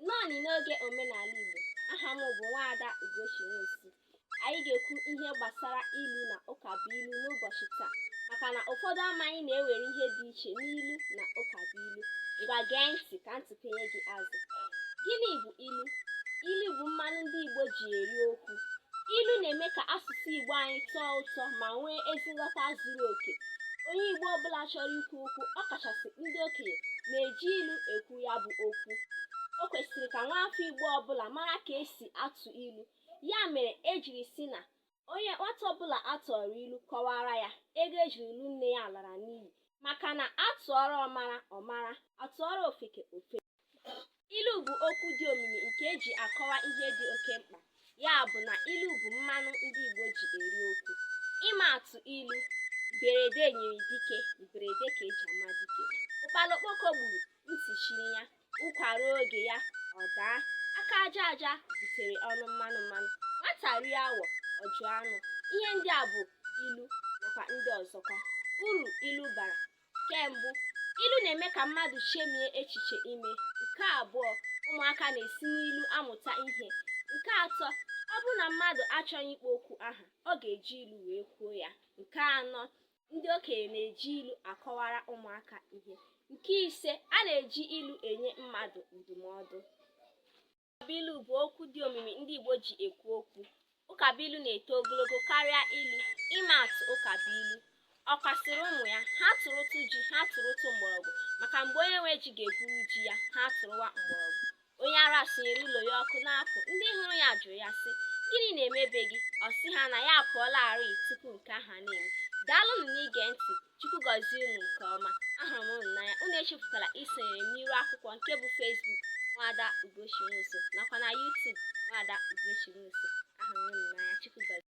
Nnọọnị n'oge omenala Igbo, aha m bụ Nwaada Ugochi Nwosu. Anyị ga-ekwu ihe gbasara ilu na ụka bụ ilu n'ụbọchị taa maka na ụfọdụ amaghị na e nwere ihe dị iche n'ilu na ụka bụ ilu. Ngwa gee ntị ka m tụpenye gị azụ. Gịnị bụ ilu? Ilu bụ mmanụ ndị Igbo ji eri okwu. Ilu na-eme ka asụsụ Igbo anyị tọọ ụtọ ma nwee ezi nghọta zuru oke. Onye Igbo ọbụla chọrọ ikwu okwu, ọ kachasị ndị okenye, na-eji ilu ekwu ya bụ okwu o kwesịrị ka nwaafọ Igbo ọbụla mara ka esi atụ ilu ya mere ejiri sị na onye nwata ọbụla atụọrọ ilu kọwara ya ego ejiri lụọ nne ya lara n'iyi maka na atụọrọ ọmara ọ mara atụọrọ ofeke ofeke ilu bụ okwu dị omimi nke eji akọwa ihe dị oke mkpa ya bụ na ilu bụ mmanụ ndị Igbo ji eri okwu ịma atụ ilu mberede nyiri dike mberede ka eji ama dike ụkpala okpoko gburu ntị chiri ya ụkwa ruo oge ya ọ daa aka aja aja butere ọnụ mmanụ mmanụ nwata rie awọ ọ jụ anụ ihe ndị a bụ ilu nakwa ndị ọzọkwa uru ilu bara nke mbụ ilu na-eme ka mmadụ chemie echiche ime nke abụọ ụmụaka na-esi n'ilu amụta ihe nke atọ ọ bụrụ na mmadụ achọghị ịkpọ okwu aha ọ ga-eji ilu wee kwuo ya nke anọ ndị okenye na-eji ilu akọwara ụmụaka ihe nke ise a na-eji ilu enye mmadụ ndụmọdụ Ụkabụilu bụ okwu dị omimi ndị Igbo ji ekwu okwu. Ụkabụilu na-eto ogologo karịa ilu. Ịma atụ ụkabụilu, ọkwa sịrị ụmụ ya, ha tụrụtụ ji, ha tụrụtụ mgbọrọgwụ, maka mgbe onye nwe ji ga-egwuru ji ya, ha tụrụwa mgbọrọgwụ. Onye ara sụnyere ụlọ ya ọkụ na-apụ, ndị hụrụ ya jụrụ ya sị, gịnị na-eme be gị? Ọ sị ha na ya apụọlarị tupu nke ahụ ana-eme. Daalụnụ n'ige ntị. Chukwu gọzie unu nke ọma. Ahụrụ m unu n'anya. Unu echefukwala isonyere m n'iru akwụkwọ nke bụ Facebook Nwaada Ugochi Nwosu nakwa na YouTube Nwaada Ugochi Nwosu. Ahụrụ m unu n'anya. Chukwu gọzie.